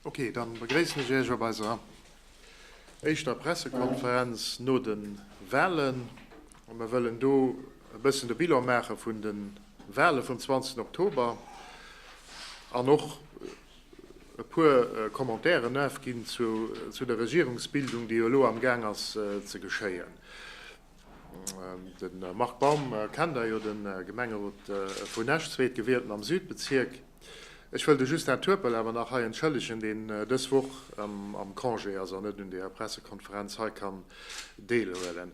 Ok, dann begréissen ech Iech op eiser éischter Pressekonferenz no den Wahlen. An mir wëllen do e bëssen de Bilan maachen vun den Wahlen vum 20 Oktober an och e puer Commentairen afginn zu der Regierungsbildung, déi jo elo am Gaang ass ze geschéien. De Marc Baum kennt Der jo, de Gemengerot vun Esch, Zweetgewielten am Südbezierk. Ech wëll de Justin Turpel awer nach hei entschëllegen, deen dës Woch am Congé ass an net un deeër Pressekonferenz hei kann deelhuelen.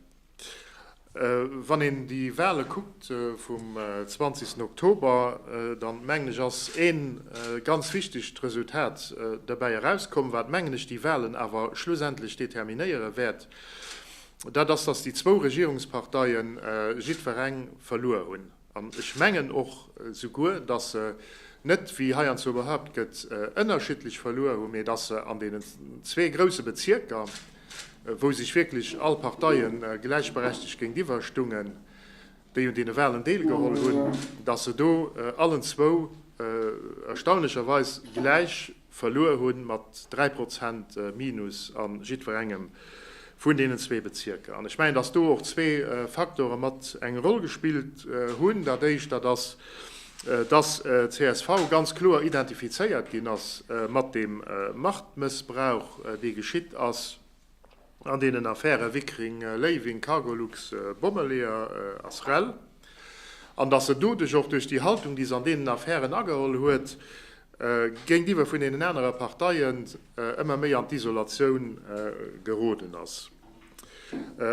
Wann een déi Wale kuckt vum 20 Oktober, dann mengen ech ass ee ganz wichtegt Resultat derbäi erauskomm, wat mengen ech déi Walen awer schlussendlech determinéiere wäert, dat ass, dass déi zwou Regierungsparteie jiddwereng verluer hunn. An ech mengen och souguer, dass se net, wéi heiandswo behaupt gëtt, ënnerschiddlech verluer hunn, mä dass se an deenen zwee grouse Bezierker, wou sech wierklech all Parteie gläichberechtigt géintiwwer stungen, déi un deene Wahlen deelgeholl hunn, dass se do allen zwou erstaunlecherweis gläich Verluer hunn, mat 3 Prozent Minus a jiddwerengem vun deenen zwee Bezierker. An ech mengen, dass do och zwee Faktore mat eng Roll gespillt hunn. Dat Éischt, dat ass, dass csv ganz kloer identifizéiert ginn ass mat deem Machtmëssbrauch, dee geschitt ass. An deenen Affäre Wickring, Léiwing, Cargolux, Bommeleeër a SREL, an datt en doduerch och duerch déi Haltung, déi se an deenen Affären ageholl huet, géintiwwer vun deenen anere Parteien ëmmer méi an d'Isolatioun geroden ass.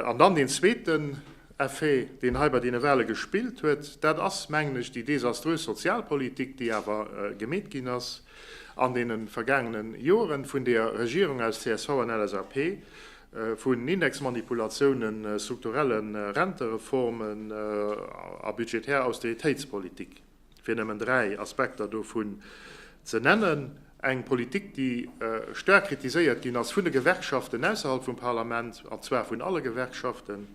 An dann deen zweeten Effet, deen hei bei deene Wale gespillt huet, dat ass, mengen ech, déi desaströs Sozialpolitik, déi awer gemeet ginn ass. an deene vergaangenen Joeren vun deer Regierung aus csv an LSAP, vun Indexmanipulatiounen, strukturelle Rentereformen a budgetär Austeritéitspolitik, fir nëmmen dräi Aspekter dovun ze nennen, eng Politik, déi staark kritiséiert ginn ass vun de Gewerkschaften ausserhalb vum Parlament, an zwar vun alle Gewerkschaften.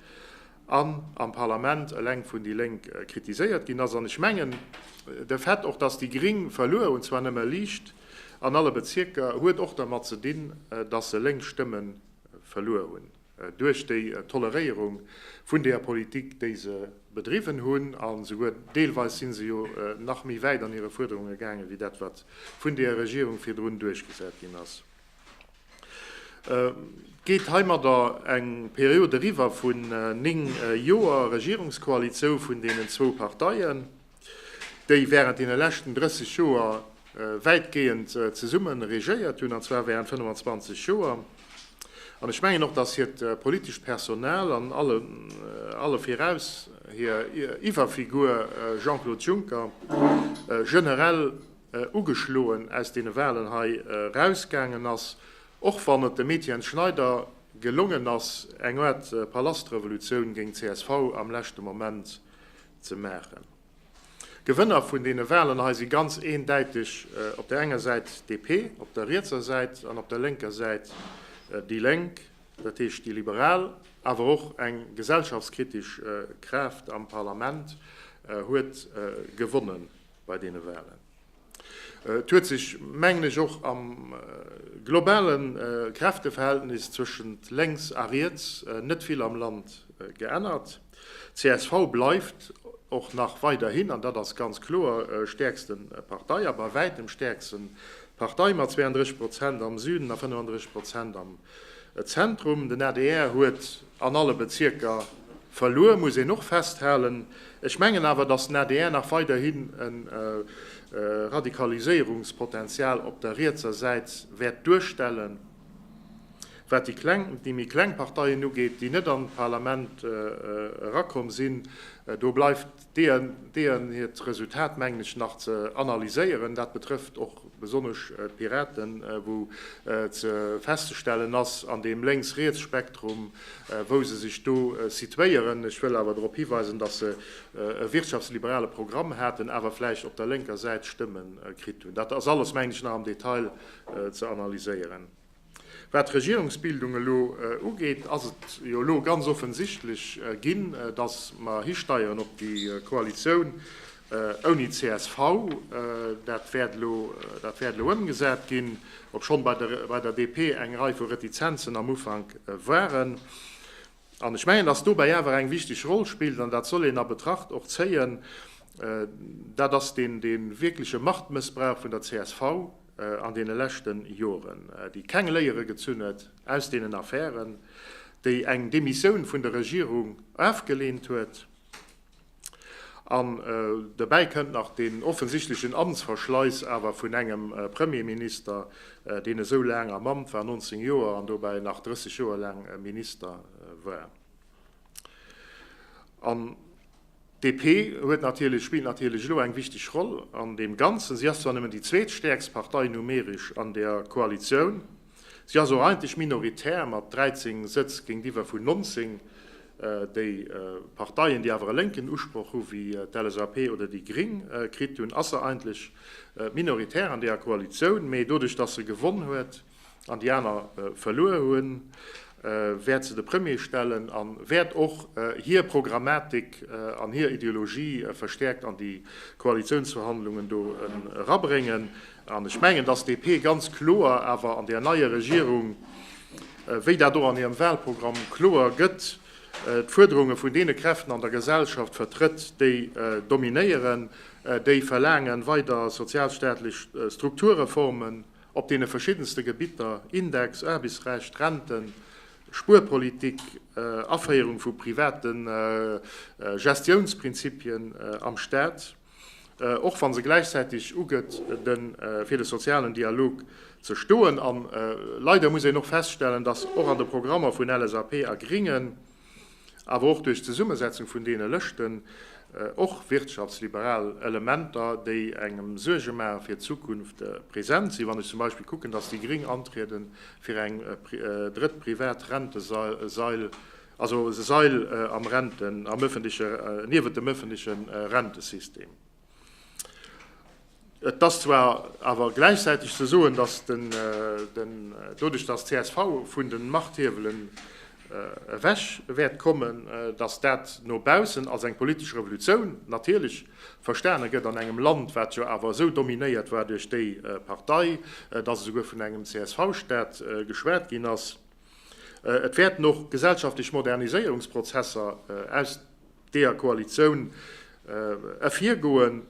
an am Parlament eleng vun déi Lénk kritiséiert ginn ass. An ech mengen, de Fait och, dass déi Gring verluer hunn, zwar nëmme liicht an alle Bezierker, huet och dermat ze dinn, dass se lénk Stëmme verluer hunn duerch déi Toleréierung vun deeër Politik, déi se bedriwwen hunn. A souguer deelweis si se jo nach méi wäit an hire Fuerderunge gaangen, wéi dat, wat vun deeër Regierung virdrun duerchgesat ginn ass. Geet heimadder eng Period eriwwer vun néng Joer Regierungskoalition vun deenen zwou Parteien, déi während deene leschten 30 Joer wäitgehend zesumme regéiert hunn, an zwar während 25 Joer, an ech mengen och, dass hiert politescht Personal an alle viraus hir Iwwerfigur Jean-Claude Juncker generell ugeschloen aus deene Walen hei erausgaangen ass, och wann et dem Etienne Schneider gelongen ass, eng Aart Palastrevolutioun géint csv am leschte Moment ze maachen. Gewënner vun deene Walen hei si ganz eendäiteg op der enger Säit DP, op der rietser Säit an op der lénker Säit déi Lénk, dat heescht déi Liberal. Awer och eng gesellschaftskritesch Kraaft am Parlament huet gewonnen. bei deene Wahlen. Et huet sech, mengen ech, och am globale Kräfteverhältnis zwëschent Lénks a Riets net vill am Land geännert. Csv bleift och nach weiderhin, an dat ass ganz kloer, stäerkste Partei a bei wäitem stäerkste Partei mat 32 Prozent am Süden a 35 Prozent am Zentrum. Den adr huet An alle Bezierker verluer, muss een och festhalen. Ech mengen awer, dass den adr nach weiderhin e Radikaliséierungspotenzial op der rietser Säit wäert duerstellen, wat déi kleng, déi méi kleng Parteien ugeet, déi net an d'Parlament erakomm sinn. Do bleift. Deeën hiert Resultat mengen ech nach ze analyséieren. Dat betrëfft och besonnesch d'Piraten, wou ze festzestellen ass an deem Lénks-Riets-Spektrum, wou se sech do situéieren. Ech wëll awer drop hiweisen, datt se e wirtschaftsliberale Programm haten, awer vläicht op der lénker Säit Stëmme kritt hunn. Dat ass alles, mengen ech, nach am Detail ze analyséieren. Wat d'Regierungsbildung elo ugeet, ass et jo elo ganz offensichtlech ginn, datt mer histeieren op déi Koalitioun ouni csv. Dat wäert elo ëmgesat ginn, obschonn bei der DP eng Rei vu Retizenzen am Ufank waren. An ech mengen, dass dobäi awer eng wichteg Roll spillt, an dat soll een a Betracht och zéien, dat ass deen wierkleche Machtmëssbrauch vun der csv an deene leschte Joren, déi keng Léiere gezunn huet aus deenen Affären, déi eng Demissioun vun der Regierung ofgelehnt huet. An dobäi kënnt nach deen offensichtlechen Amtsverschleiss awer vun engem Premierminister, deen esou laang am Amt war, 19 Joer, an dobäi nach 30 Joer laang Minister war. An d'DP huet natierlech, spillt natierlech elo eng wichteg Roll an deem Ganzen. Si ass zwar nëmmen déi zweetstäerkst Partei numeresch an der Koalitioun. Si ass och eigentlech minoritär mat 13 Sëtz géintiwwer vun 19, déi Parteien, déi awer e lénken Usproch hu wéi d'LSAP oder déi Gring kritt hunn, ass se eigentlech minoritär an deeër Koalitioun. Mee doduerch, datt se gewonn huet an déi aner verluer hunn, wäert se de Premier stellen a wäert och hir Programmatik an hir Ideologie verstäerkt an déi Koalitiounsverhandlungen do erabréngen. An ech mengen, dass DP ganz kloer awer an där neier Regierung, wéi dat och an hirem Wahlprogramm kloer gëtt, d'Fuerderunge vun deene Kräften an der Gesellschaft vertrëtt, déi dominéieren, déi verlaangen weider sozialstaatlech Strukturreformen, op deene verschiddenste Gebitter, Index, Aarbechtsrecht, Renten, Spuerpolitik, Aféierung vu private Gestiounsprinzipien am Staat, och wa se gläichzäiteg ugëtt, fir de sozialen Dialog ze stoen. A leider muss een och feststellen, dass och an de Programmer vun LSAP a Gringen, awer och duerch d'Zesummesetzung vun deene Lëschten, och wirtschaftsliberal Elementer, déi engem Suerge maache fir d'Zukunft, present sinn. Wann ech zum Beispill kucken, dass déi Gréng antriede fir eng drëtt privat Rentesail, also e Sail am Renten, am öffentliche, niewent dem öffentliche Rentesystem. Et ass zwar awer gläichzäiteg ze soen, datt doduerch, datt csv vun de Machthiewelen ewech wäert kommen, datt dat no baussen als eng politesch Revolutioun natierlech verstane gëtt an engem Land, wat jo awer esou dominéiert war duerch déi Partei, datt esouguer vun engem CSV-Staat geschwat ginn ass. Et wäerten och gesellschaftlech Moderniséierungsprozesser aus. deeër Koalitioun ervirgoen.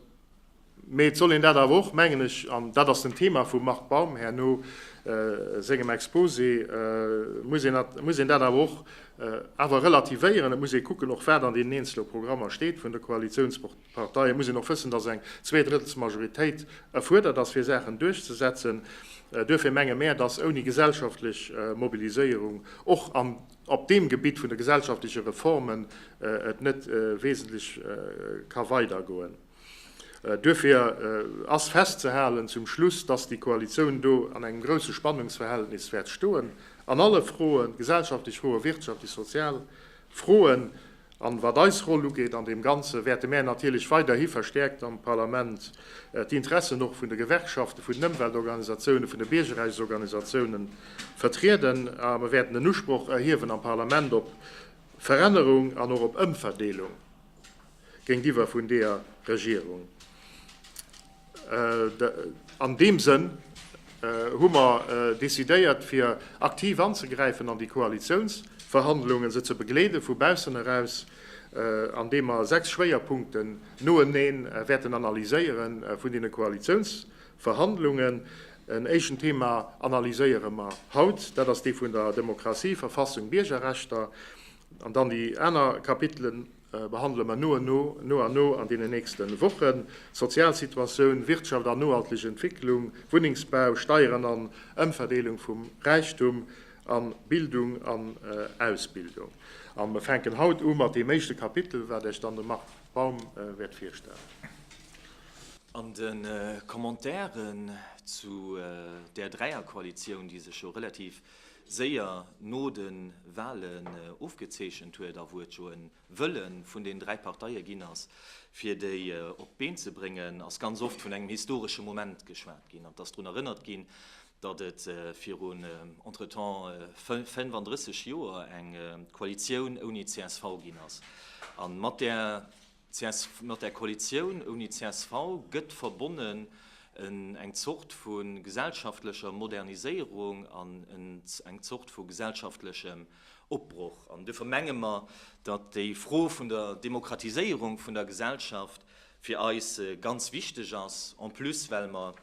Mee et soll een dat awer och, mengen ech, an dat ass den Thema vum Marc Baum herno sengem Exposé, muss een dat, muss een dat awer och awer relativéieren. Et muss ee kucken och, wat an deenen eenzele Programmer steet vun de Koalitiounsparteien. Et muss een och wëssen, dass eng Zweedrëttelsmajoritéit erfuerdert ass, fir Saachen duerchzesetzen. Duerfir menge mär, dass ouni gesellschaftlech Mobiliséierung och an ob deem Gebitt vun de gesellschaftleche Reformen et net wesentlech ka weidergoen. Duerfir ass festzehalen zum Schluss, dass déi Koalitioun do an engem grousse Spannungsverhältnis wäert stoen an alle Froen, gesellschaftlech Froen, wirtschaftlech, sozial Froen, An wat eis Roll ugeet an deem Ganzen, wäerte mär natierlech weiderhi verstäerkt am Parlament d'Interessen och vun de Gewerkschaften, vun den Ëmweltorganisatiounen, vun de Biergerrechtsorganisatiounen vertrieden. A mer wäerten den Usproch erhiewen am Parlament op Verännerung an och op Ëmverdeelung géintiwwer vun deeër Regierung. An deem Sënn hu mer decidéiert, fir aktiv anzegräifen an déi Koalitiounsverhandlungen, se ze begleede vu baussen eraus, andeem mer sechs Schwéierpunkten noeneen wäerten analyséiere vun deene Koalitiounsverhandlungen. En éischten Thema analyséiere mer haut, dat ass dee vun der Demokratie, Verfassung, Biergerrechter, an dann déi aner Kapitelen. behandele mer no a no an deenen nächste Wochen, Sozialsituatioun, Wirtschaft an nohalteg Entwécklung, Wunnengsbau, Steieren an Ëmverdeelung vum Räichtum, a Bildung an Ausbildung. A mer fänken haut u mat deem éischte Kapitel, wat Iech dann de Marc Baum wäert virstellen. An de Commentairen zu där Dräierkoalitioun, déi sech jo relativ séier no de Walen ofgezeechent huet a wou et jo e Wëlle vun den dräi Parteie ginn ass, fir déi op d'Been ze bréngen, ass ganz oft vun engem historesche Moment geschwat ginn an et ass drun erënnert ginn, datt et virun entretemps 35 Joer eng Koalitioun ouni csv ginn ass an mat där. Csv, Mat der Koalitioun ouni csv gëtt verbonnen eng Zort vu gesellschaftlecher Moderniséierung an eng Zort vu gesellschaftlechem Opbroch. An dofir menge mer, datt déi Fro vun der Demokratiséierung vun der Gesellschaft fir eis ganz wichteg ass, en plus well mer,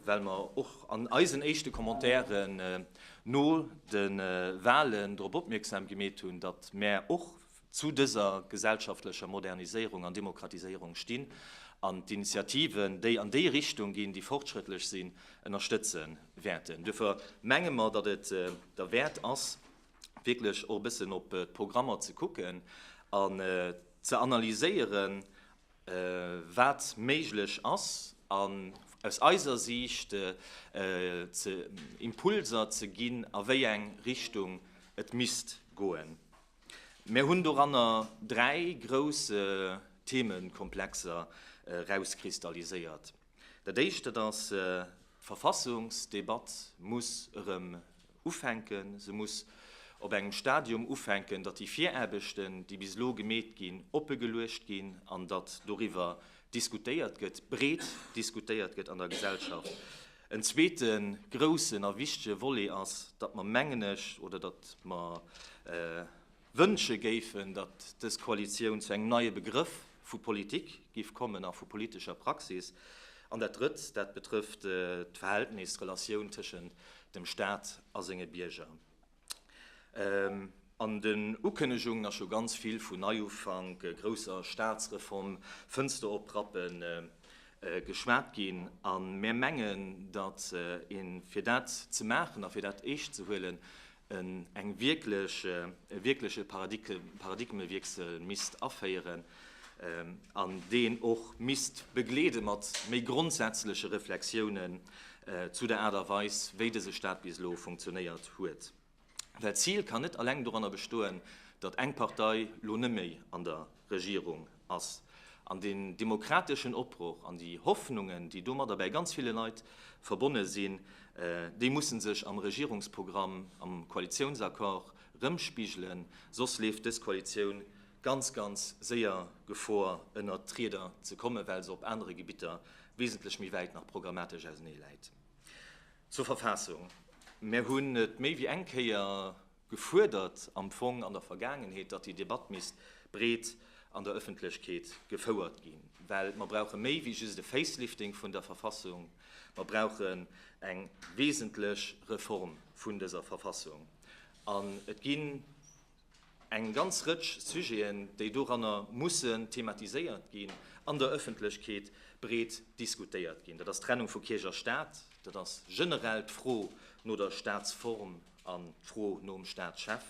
well mer och an eisen éischte Commentairen no de Wahlen drop opmierksam gemeet hunn, datt mer och, Zu dëser gesellschaftlecher Moderniséierung an Demokratiséierung stinn, an d'Initiativen, déi an déi Richtung ginn, déi fortschrëttlech sinn, ënnerstëtze wäerten. Duerfir menge mer, datt et derwäert ass, wierklech och e bëssen op d'Programmer ze kucken an ze analyséieren, wat méiglech ass, an aus eiser Siicht Impulser ze ginn, a wéi eng Richtung et misst goen. Mär hunn doranner dräi grouss Themekomplexer erauskristalliséiert. Dat éischt, dat ass, d'Verfassungsdebatt muss erëm ufänken. Se muss op engem Stadium ufänken, datt déi Viraarbechten, déi bis elo gemeet ginn, oppe geluecht ginn an datt doriwwer diskutéiert gëtt, breet diskutéiert gëtt an der Gesellschaft. En zweete groussen a wichtige Volet ass, datt mer, mengen ech, oder datt mer wënsche géifen, datt dës Koalitioun zu engem neie Begrëff vu Politik giff kommen a vu politescher Praxis. An dat Drëtt, dat betrëfft d'Verhältnis, d'Relatioun tëschent dem Stat a senge Bierger. An den Ukënnegungen ass scho ganz vill vun Neiufank, grousser Staatsreform, Fënster oprappen geschwat ginn. A mir mengen, datt een, fir dat ze maachen a fir dat eescht ze huelen, e wierkleche Paradigmewiessel misst aféieren an deen och misst begleede mat méi grondsätzleche Reflexiounen zu der Aart a Weis, wéi dëse Staat bis elo funktionéiert huet. Well d'Zil kann net eleng doranner bestoen, datt eng Partei lo neméi an der Regierung ass. An den demokrateschen Opbroch an déi Hoffnungen, déi domadder bäi ganz ville Leit verbonne sinn, déi musse sech am Regierungsprogramm, am Koalitiounsaccord rëmspigelen, soss leeft dës Koalitioun ganz, ganz séier Gefor, ënnert d'Rieder ze kommen, well se op anere Gebitter wesentlech méi wäit nach programmatesch ausenee läit. Zur Verfassung, Mär hunn et méi wéi eng Kéier gefuerdert am Fong an der Vergaangenheet, datt déi Debatt misst breet an der Ëffentlechkeet gefouert ginn, well mer brauche méi wéi just e Facelifting vun der Verfassung, mer brauchen eng wesentlech Reform vun dëser Verfassung. An et ginn. Eng ganz Rëtsch Sujeten, déi doranner mussen thematiséiert ginn, an der Ëffentlechkeet breet diskutéiert ginn. Dat ass d'Trennung vu Kierch a Staat, dat ass generell d'Fro no der Staatsform an d'Fro nom Staatschef.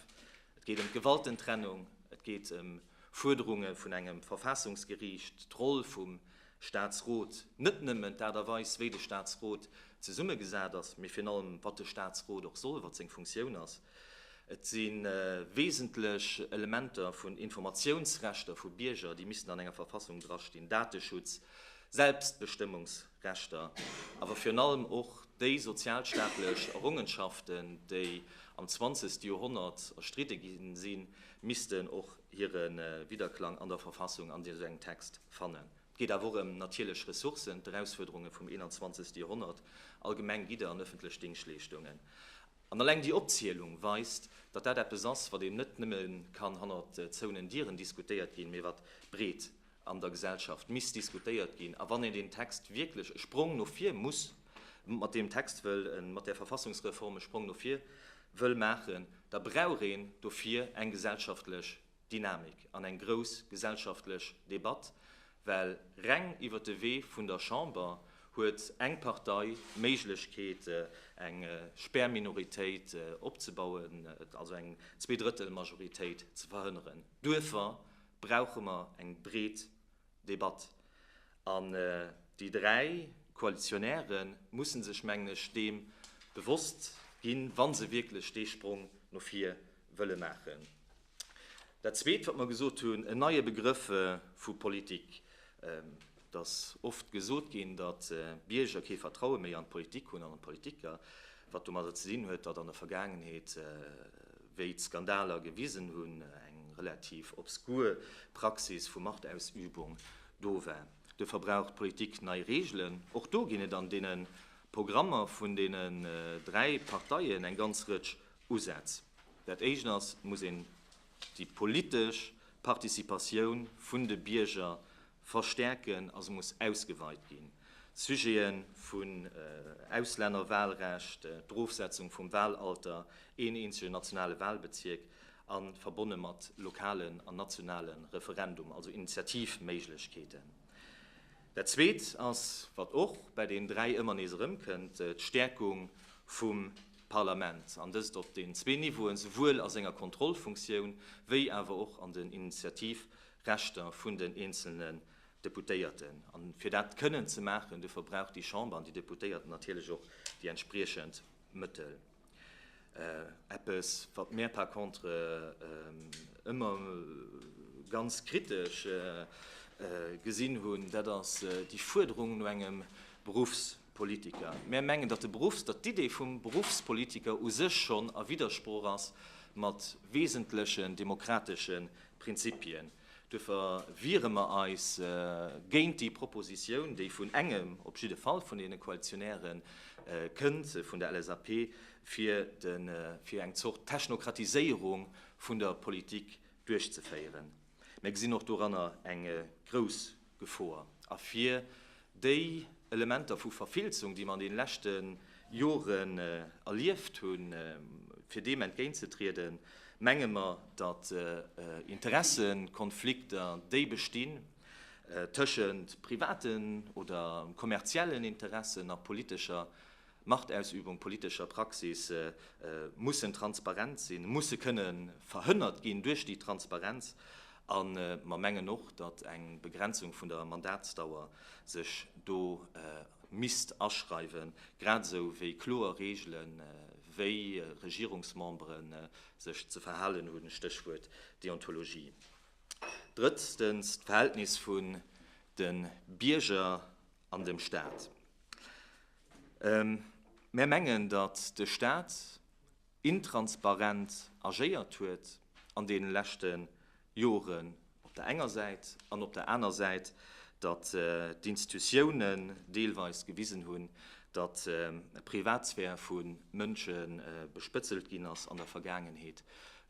Et geet ëm d'Gewaltentrennung, et geet ëm Fuerderunge vun engem Verfaassungsgeriicht, d'Roll vum Staatsrot, net nëmmen d'Aart a Weis, wéi de Staatsrot zesummegesat ass, mee virun allem, wat de Staatsrot och soll, wat seng Funktioun ass. Et si wesentlech Elementer vun Informatiounsrechter vu Bierger, déi missten an enger Verfassung drastinn, Dateschutz, Selbstbestëmmungsrechter, awer virun allem och déi sozialstaatlech Errongenschaften, déi am zwanzegste Joerhonnert erstridde gi sinn, missten och hire Widderklang an der Verfassung an esou engem Text fannen. Et geet awer och ëm natierlech Ressourcen, d'Erausfuerderunge vum 21. Joerhonnert, allgemeng Gidder an ëffentlech Dingschtleeschtungen. An alleng déi Opzielung weist, datt dat eppes ass, wat eben net nëmme kann hannert zouenen Dieren diskutéiert ginn, mee wat breet an der Gesellschaft misst diskutéiert ginn a wann een deen Text wierklech e Sprong no vir muss mat deem Text wëll, mat där Verfassungsreform e Sprong no vir wëll maachen, da brauch een dofir eng gesellschaftlech Dynamik an eng grouss gesellschaftlech Debatt, well reng iwwer de Wee vun der Chamber huet eng Partei d'Méiglechkeet eng Spärminoritéit opzebauen, also eng Zweedrëttelmajoritéit ze verhënneren. Duerfer brauche mer eng breet Debatt. An déi dräi Koalitionäre mussen sech, mengen ech, deem bewosst ginn, wa se wierklech dee Sprong no vir wëlle maachen. Dat Zweet, wat mer gesot hunn, en neie Begrëff vu Politik. Et ass oft gesot ginn, datt d'Bierger kee Vertraue méi an d'Politik hunn an an d'Politiker, wat domadder ze dinn huet, datt an der Vergaangenheet, wéi d'Skandaler gewisen hunn, eng relativ obskur Praxis vu Machtausübung do war. Duerfir brauch d'Politik nei Reegelen. Och do ginn et an deene Programmer vun deenen dräi Parteien eng ganz Rëtsch Usätz. Dat Éischt ass, et muss een déi politesch Participatioun vun de Bierger Verstärken a se muss ausgeweit ginn. D'Sujete vun Auslännerwahlrecht, d'Erofsetzung vum Wahlalter, een eenzege nationale Wahlbezierk a verbonne mat lokalen an nationale Referendum, also Initiativméiglechkeeten. Dat Zweet ass, wat och bei deenen dräi ëmmer nees erëmkënnt, d'Stärkung vum Parlament, an dëst op den zwee Niveauen, souwuel a senger Kontrollfunktioun wéi awer och an den Initiativ Rechter vun den eenzelnen Deputéierten. A fir dat kënnen ze maachen, dofir brauch déi Chamber an déi Deputéierten natierlech och déi entspriechend Mëttel. Eppes, wat mär par contre ëmmer ganz kritesch gesinn hunn, dat ass déi Fuerderung no engem Beruffspolitiker. Mär mengen, datt de Beruffs-, datt d'Idee vum Beruffspolitiker u sech schonn a Widdersprooch ass mat wesentlechen demokrateschen Prinzipien. Duerfir wiere mer eis géint déi Proposition, déi vun engem, op jidde Fall vun deene Koalitionäre kënnt, vun der LSAP, fir eng Zort Technokratiséierung vun der Politik duerchzeféieren. Mir gesinn och doranner eng grouss Gefor. A fir déi Elementer vu Verfilzung, déi mer an deene leschte Joren erlieft hunn, fir deem entgéintzetrieden, menge mer, datt Interessekonflikter, déi bestinn tëschent privaten oder kommerziellen Interessen a politescher Machtausübung, politesch a Praxis mussen transparent sinn, musse kënne verhënnert ginn duerch déi Transparenz. A mer mengen och, datt eng Begrenzung vun der Mandatsdauer sech do misst aschreiwen, grad esou wéi kloer Reegelen, wéi Regierungsmembere sech ze verhalen hunn, Stéchwuert Deontologie. Drëtztens, d'Verhältnis vun de Bierger an dem Stat. Mär mengen, datt de Stat intransparent agéiert huet an deene leschte Joren op der enger Säit an op der aner Säit, datt d'Institutiounen deelweis gewisen hunn, datt d'Privatsphär vu Mënsche bespëtzelt ginn ass an der Vergaangenheet,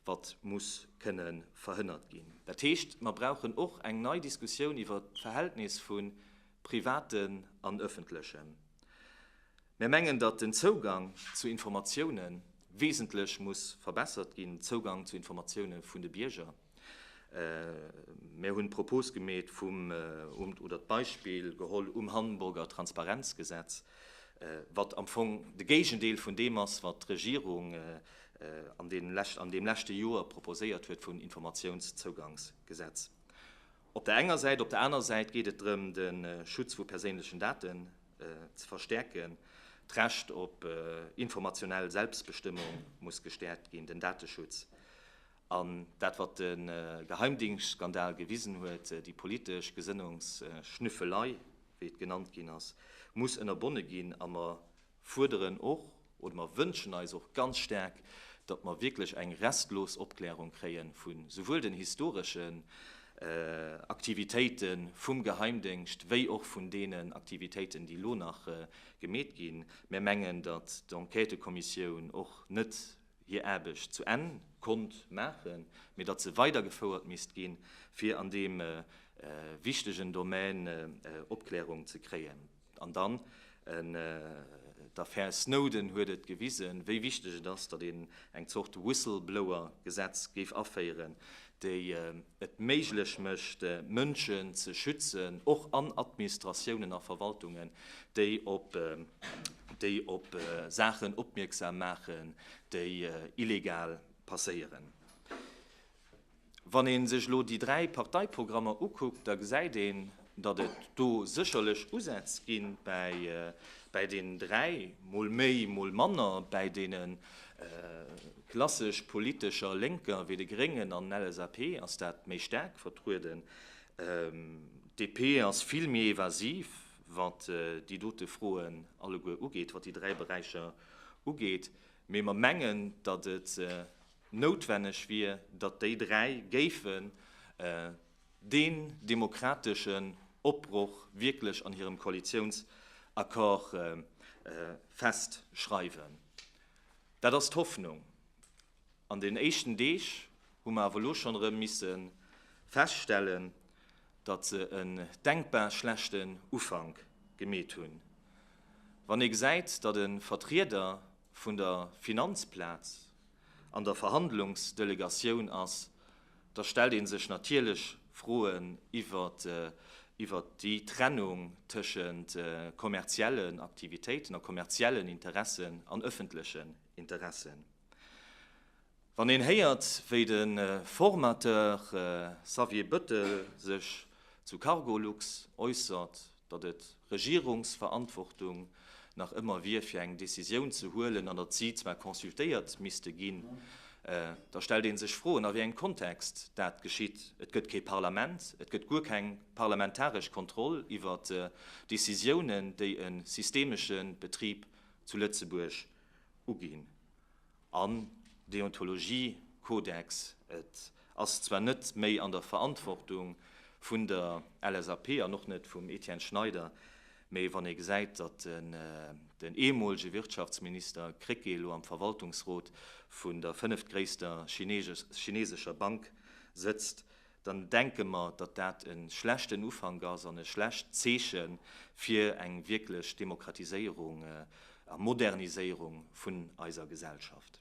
wat muss kënne verhënnert ginn. Dat heescht, mer brauchen och eng nei Diskussioun iwwert d'Verhältnis vu privaten an öffentlechen. Mär mengen, datt den Zougang zu Informatioune wesentlech muss verbessert ginn, den Zougang zu Informatioune vun de Bierger. Mär hunn d'Propos gemeet vum, oder d'Beispill geholl um Hamburger Transparenzgesetz, wat am Fong de Géigendeel vun deem ass, wat d'Regierung an deem leschte Joer proposéiert huet vum Informatiounszougangsgesetz. Op der enger Säit. Op der aner Säit geet et drëm, de Schutz vu perséinlechen Daten ze verstäerken. D'Recht op informationell Selbstbestëmmung muss gestäerkt ginn, den Dateschutz an dat, wat de Geheimdingstsskandal gewisen huet, déi politesch Gesënnungsschnüffelei, wéi et genannt ginn ass, muss ënnerbonne ginn a mer fuerderen och, oder mer wënschen eis och ganz staark, datt mer wierklech eng restlos Opklärung kréie vu souwuel den historeschen Aktivitéite vum Geheimdéngscht wéi och vun deenen Aktivitéiten, déi elo nach gemeet ginn. Mär mengen, datt d'Enquêtëkommissioun och net hir Aarbecht zu Enn konnt maachen, mee datt se weidergefouert misst ginn, fir an deem wichtegen Domän Opklärung ze kréien. An dann, d'Affär Snowden huet et gewisen, wéi wichteg et ass, datt een eng Zort Whistleblower-Gesetz géif aféieren, déi et méiglech mécht, Mënschen ze schützen, och an Administratiounen a Verwaltungen, déi op Saachen opmierksam maachen, déi illegal passéieren. Wann ee sech elo déi dräi Parteiprogrammer ukuckt, da gesäit een, datt et do sécherlech Usätz gi bäi deenen dräi, mol méi, mol manner bäi deene klassesch politescher Lénker wéi de Gréngen an LSAP ass dat méi staark vertrueden. DP ass vill méi evasiv, wat déi dote Froen alleguer ugeet, wat déi dräi Beräicher ugeet. Mee mer mengen, datt et Noutwenneg wier, datt déi dräi géifen deen demokrateschen Opbroch wierklech an hirem Koalitiounsaccord festschreiwen. Dat ass d'Hoffnung. An den éischten Deeg hu mer awer elo schonn erëm misse feststellen, datt se en denkbar schlechten Ufank gemeet hunn. Wann ee gesäit, datt e Vertrieder vun der Finanzplaz, an der Verhandlungsdelegatioun ass, da stellt ee sech natierlech Froen iwwer déi Trennung tëschent kommerziellen Aktivitéiten a kommerziellen Interessen an ëffentlechen Interessen. Wann een héiert, wéi de Formateur Xavier Bettel sech zu Cargolux äussert, datt et Regierungsverantwortung nach ëmmer wier fir eng Décisioun ze huelen an datt si zwar consultéiert misste ginn, da stellt ee sech Froen, a wéi engem Kontext dat geschitt. Et gëtt kee Parlament, et gëtt guer keng parlamentaresch Kontroll iwwer Décisiounen, déi e systemesche Betrib zu Lëtzebuerg uginn. An Deontologiekodex, et ass zwar net méi an der Verantwortung vun der LSAP an och net vum Etienne Schneider, mee wann ee gesäit, datt den eemolege Wirtschaftsminister Krecké elo am Verwaltungsrot vun der fënneftgréisster chineesescher Bank sëtzt, dann denke mer, datt dat e schlechten Ufank ass an e schlecht Zeeche fir eng wierklech Demokratiséierung a Moderniséierung vun eiser Gesellschaft.